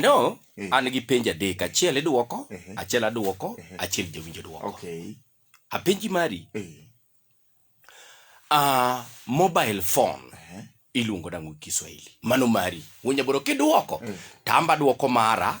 No, eh. an gi penj adek, achiel idwoko, eh. achiel adwoko, eh. achiel jawinjo dwoko. Okay. Apenji mari. Uh, mobile phone iluongo nang'o Kiswahili? Mano mari. Wunyaboro kidwoko, tamba dwoko mara.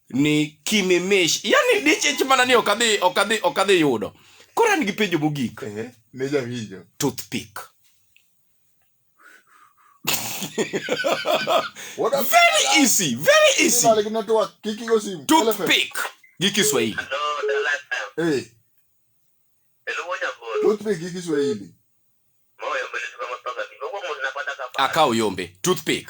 ni kimimish yani dichich mana ni okadhi okadhi okadhi yudo koro an gi penjo mogik eh, ne jawinjo toothpick very easy very easy toothpick gi Kiswahili eh toothpick gi Kiswahili akao yombe toothpick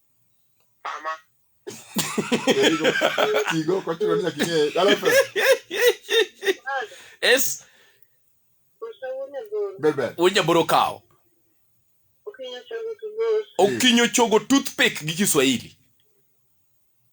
Mama. Kigo kwa kilo nina kige. Dala fe. Es. Bebe. Unya boro kao. Okinyo chogo toothpick gi Kiswahili.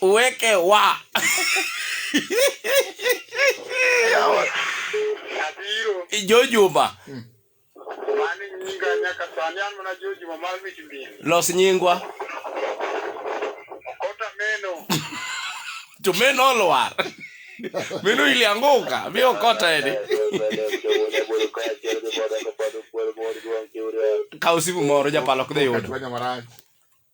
uweke wa jojuma hmm. los nyingwa to men olwar meno ilianguka mi okota eni kaw simu moro japalo kdhi yudo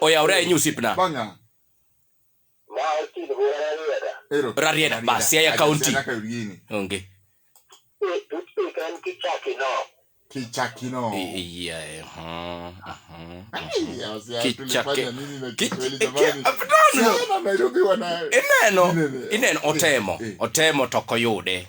oyawre ahinya osiepna rarieda bas siaya kaunti onge kichakino ineno ineno otemo eh, eh. otemo to ok oyude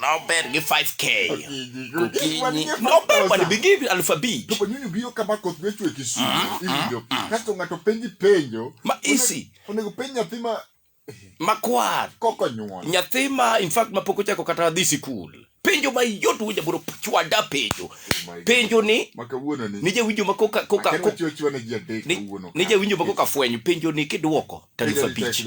nober gi 5k gokinyi nober mondo ibi gi alufu abich to panyuni biro kama koth biro chwe kisumu mm, iwinjo mm, mm. kasto ng'ato penji penjo ma isi onego penj nyathi ma makwar koko nyuol nyathi ma in fact ma pok ochako kata dhi sikul penjo ma yot winja bro chwada penjo oh penjo ni ni jawinjo ma koka koka ni jawinjo ma koka fwenyo penjo ni kidwoko talufu abich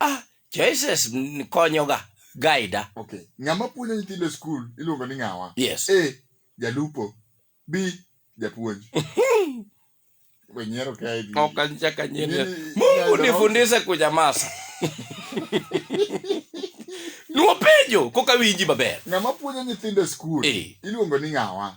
Ah, choices mm, konyoga gaida. Okay. Ng'ama puonjo nyithindo e skul iluongo ni ng'awa? Yes. A. Jalupo. B. Japuonj. Wenyiero kae di. Ok anchaka nyeni. Nyeni- Mungu nyani- nifundishe kunyamaza. Nuopenjo koka winji maber. Ng'ama puonjo nyithindo e skul Eh. iluongo ni ng'awa?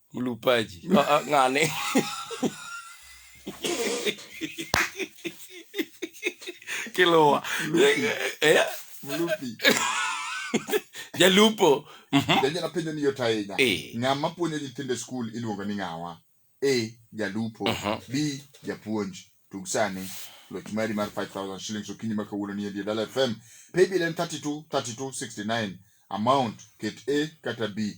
Mlupaji. Ah, ah, Ng'ane. Kilowa. Eh, Mlupi. Jalupo. Mhm. Janja napenjo ni yot ahinya. Eh. Ng'ama puonjo nyithindo e skul iluongo ni ng'awa? A. Jalupo. Mhm. B. Japuonj. Tug sani. Loch mari mar 5000 shillings okinyi ma kawuono ni e Dala FM. Paybill en 32 32 69. Amount ket A kata B.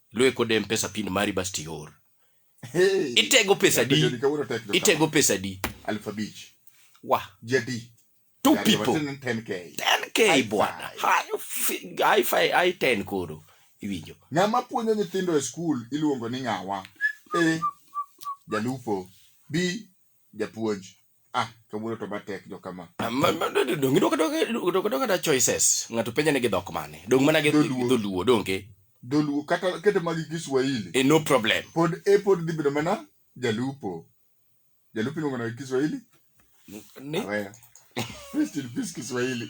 Lue kode mpesa pin mari bas tior. Hey. Itego pesa di. Jodi kawuono tek jo Itego kama. pesa di. Alif abich. Wa. Jadi. Two Jadi, people. watin 10K. 10k High bwana. five. High fi- high five, high 10 koro. Iwinjo. Ng'ama puonjo nyithindo e skul iluongo ni ng'awa. A. Jalupo. B. japuonj ah kawuono to matek jo kama ah, dong idwoko doka da choices ng'ato penja ni gi dhok mane dong mana gi dholuo donge dholuo kata kete magi kiswahili e no problem pod e pod dhi bedo mana jalupo jalupo iluongo na kiswahili ni Rest in peace kiswahili